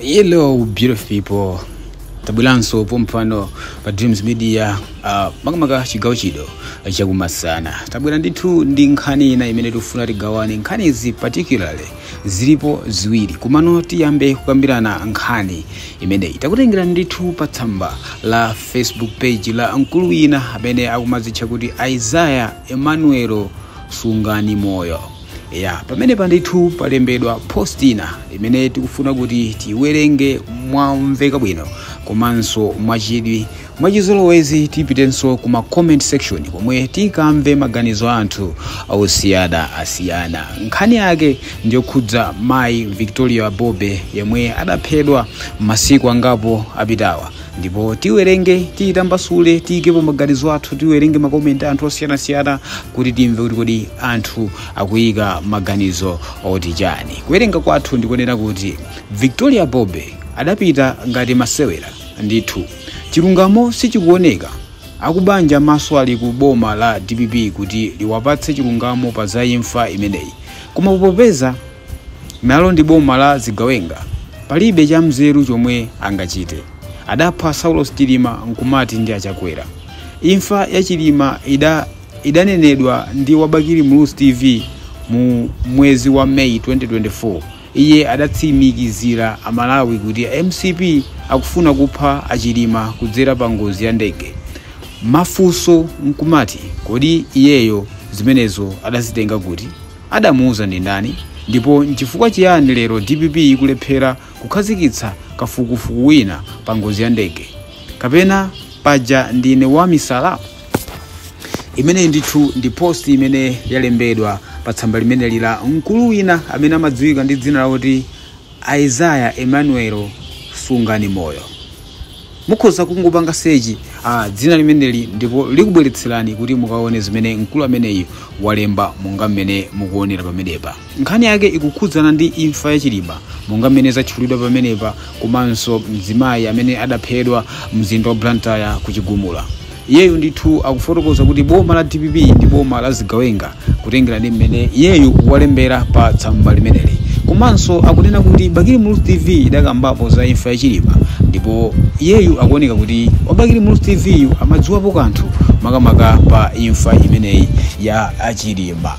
Hello beautiful people. Tabweranso pompano pa Dreams Media uh, makamaka chigawo chino chakumasana. Tabwera ndithu ndi nkhani ina imene tikufuna tigawane. Nkhani izi particularly zilipo ziwiri. Komano tiyambe kukambirana nkhani imeneyi. Takutengera ndithu pa tsamba la Facebook page la mkulu wina amene akumazitcha kuti Isaiah Emmanuel Sungani Moyo. ya pamenepa ndithu palembedwa post ina imene tikufuna kuti tiyiwerenge momveka bwino komanso mwachidwi mwachizolowezi tipitenso ku ma comment section komwe tikamve maganizo a anthu osiyana asiyana nkhani yake ndiyokhudza mayi victoria bobe yemwe adaphedwa masiku angapo apitawa ndipo tiwerenge tiyitambasule tiyikepo maganizo athu tiwerenge makomenti anthu osiyanasiyana kuti timve kuti kodi anthu akuyika maganizo oti chani kuwerenga kwathu ndi konena kuti victoria bobe adapita ngati masewera ndithu chilungamo sichikuoneka akubanja maso ali ku boma la dpp kuti liwapatse chilungamo pa za imfa imeneyi koma popeza Nalo ndi boma la zigawenga, palibe cha mzeru chomwe angachite. Adapha Saulos Chilima nkumati ndi a Chakwera. Imfa ya Chilima idanenedwa ndi wa Bakili Muluzi TV mu mwezi wa May 2024. Iye adatsimikizira a Malawi kuti mcp akufuna kupha a Chilima kudzera pa ngozi ya ndege. Mafunso nkumati kodi iyeyo zimenezo adazitenga kuti? Adamuuza ndi ndani? Ndipo nchifukwa chiyani lero dpp ikulephera kukhazikitsa kafukufuku wina pa ngozi ya ndege? Kapena paja ndine wa misala? Imeneyi ndithu ndi post imene yalembedwa pa tsamba limeneli la mkulu wina amene amadziwika ndi dzina lakuti Isaiah Emmanuel Sungani Moyo. Mukhoza kungopanga search ah, dzina limeneli ndipo likubweretserani kuti mukaone zimene mkulu ameneyi walemba monga mmene mukuonera pamenepa. Nkhani yake ikukhudzana ndi imfa ya Chilima monga mmene zatchulidwa pamenepa komanso mzimayi amene adaphedwa mzinda wa Blantyre ku Chigumula. Iyeyu ndithu akufotokoza kuti boma la dpp ndi boma la zigawenga kutengera ndi mmene iyeyu walembera pa tsamba limeneli. Komanso akunena kuti Bakili Muluzi TV idakambapo za imfa ya Chilima ndipo iyeyu akuoneka kuti wa Bakili Muluzi TV yu amadziwapo kanthu makamaka pa imfa imeneyi ya a Chilima.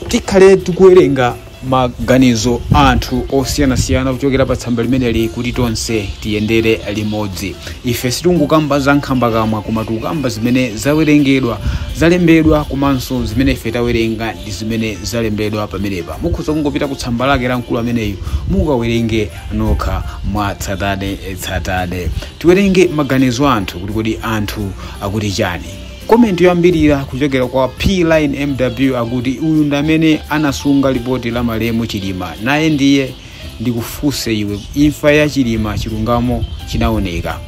tikhale tikuwerenga maganizo a anthu osiyanasiyana kuchokera pa tsamba limeneli kuti tonse tiyendere limodzi ife sitingokamba za nkhambakamwa koma tikukamba zimene zawerengedwa zalembedwa komanso zimene ife tawerenga ndi zimene zalembedwa pamenepa mukhoza kungopita ku tsamba lake la mkulu ameneyu mukawerenge nokha mwa tsatane tsatane tiwerenge maganizo a anthu kuti kodi anthu akuti chani komenti yoyambirira kuchokera kwa pline mw akuti uyu ndi amene anasunga lipoti la malemu chilima naye ndiye ndikufunse iwe imfa ya chilima chilungamo chinaoneka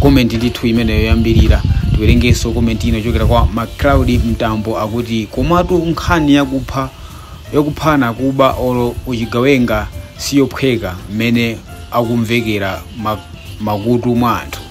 komenti ndithu imeneyo yoyambirira tiwerengeso komenti ina kuchokera kwa macloud mtambo akuti komatu nkhani yakupha yokuphana kuba olo uchigawenga siyophweka mmene akumvekera ma- makutu mwa anthu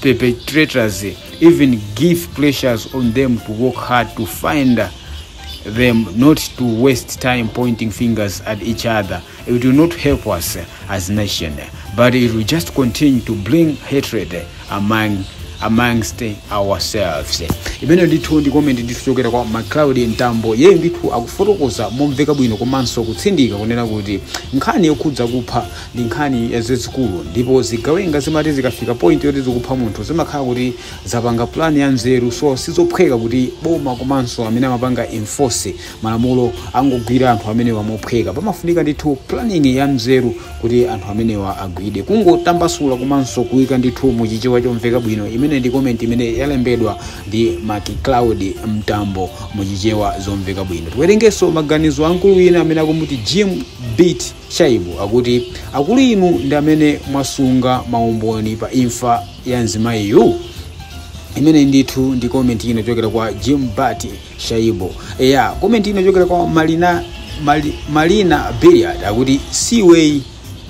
perpetrators even give pressures on them to work hard to find them not to waste time pointing fingers at each other it will not help us as nation but it will just continue to bring hatred among amongst ourselves imene ndithu ndi comment ndithu chokera kwa macloud mtambo yeye ndithu akufotokoza momveka bwino komanso kutsindika kunena kuti nkhani yokhudza kupha ndi nkhani yazizikulu ndipo zigawenga zimati zikafika point yoti zikupha munthu zimakhala kuti zapanga plan ya nzeru so sizophweka kuti boma komanso amene amapanga enforce malamulo angogwira anthu amenewa mophweka pamafunika ndithu planning ya nzeru kuti anthu amenewa agwide kungotambasula komanso kuika ndithu muchichewa chomveka bwino imene ndi comment imene yalembedwa ndi macloud mtambo muchichewa zomveka bwino tiwerengeso maganizo a mkulu wina amene akumuti jim beat Shaibu akuti akulu inu ndi amene mwasunga maumboni pa imfa ya mzimayiyu imene ndithu ndi comment ina yochokera kwa Jim Beat Shaibu. Eya, comment ina yochokera kwa Marina Mari, Marina Billiard akuti si iweyi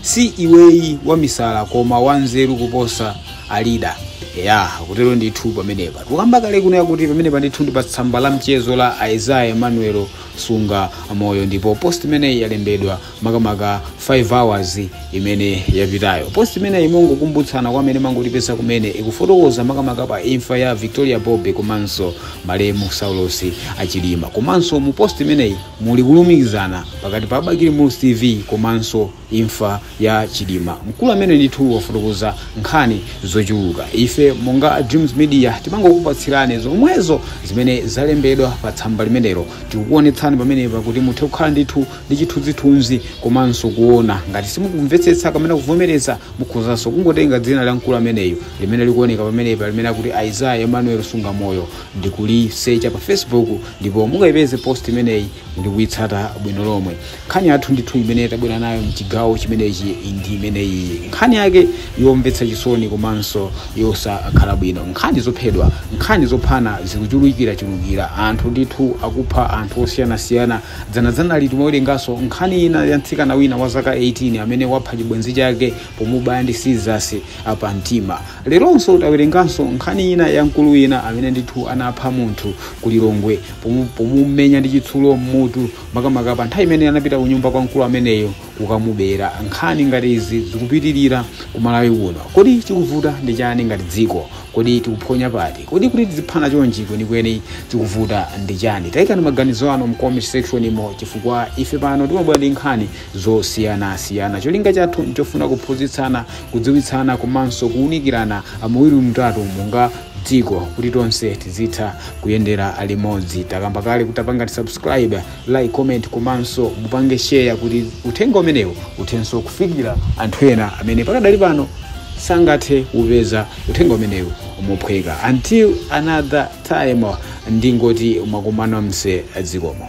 si iweyi wamisala koma wanzeru kuposa a leader. Eya, kutero ndithu pamenepa. Tukamba kale kuno yakuti pamenepa ndithu ndi pa tsamba la mchezo la Isaiah Emmanuel sunga moyo ndipo post imeneyi yalembedwa makamaka 5 hours imene yapitayo post imeneyi kumangokumbutsana kwa amene mwangotipeza kumene ikufotokoza makamaka pa imfa ya victoria bobe komanso malemu saulos chilima komanso mu post imeneyi muli kulumikizana pakati pa bakili muluzi tv komanso imfa ya chilima mkulu ameneyu ndithu wafotokoza nkhani zochuluka ife monga a dreams media tangokupatsirani zomwezo zimene zalembedwa pa tsamba limenelo tikukuonetsani pamenepa kuti muthe kukhala ndithu ndi chithunzithunzi komanso kuona ngati simukumvetsetsa kapena kuvomereza mukhozanso kungotenga dzina la mkulu ameneyu limene likuoneka pamenepa limene akuti isaiah emmanuel sungamoyo ndikulisecha pa facebook ndipo mukayipeze post imeneyi ndikuitsata bwino lomwe nkhani yathu ndithu imene tabwera nayo mchigawo chimenechi ndi imeneyi nkhani yake yomvetsa chisoni komanso yosakhala bwino nkhani zophedwa nkhani zophana zikuchulukirachulukira anthu ndithu akupha anthu osiyanasiyana dzanadzanali timawerenganso nkhani ina ya mtsikana wina wa zaka 18 amene wapha chibwenzi chake pomubaya ndi sizasi pa mtima leronso tawerenganso nkhani ina ya mkulu wina amene ndithu anapha munthu kulilongwe pomu- pomumenya ndi chitsulo m'mutu makamaka pa nthawi imene anapita ku nyumba kwa mkulu ameneyo kukamubera nkhani ngati izi zikupitirira ku malawi kuno kodi chikuvuta ndi chani ngati dziko kodi tikuphonya pati kodi kuti tiziphana chonchi kwenikweni chikuvuta ndi chani tayikani maganizo anu mcomment section imo chifukwa ife pano timabwera ndi nkhani zosiyanasiyana cholinga chathu nchofuna kuphunzitsana kudziwitsana komanso kuwunikirana amawiri matatu monga dziko kuti tonse tizitha kuyendera limodzi takamba kale kuti tapangani subscribe like comment komanso mupange share kuti uthenga umenewu uthenso kufikira anthu ena amene pakadali pano sangathe kupeza uthenga umenewu mophweka until another time ndingoti mwakumanamo zikomo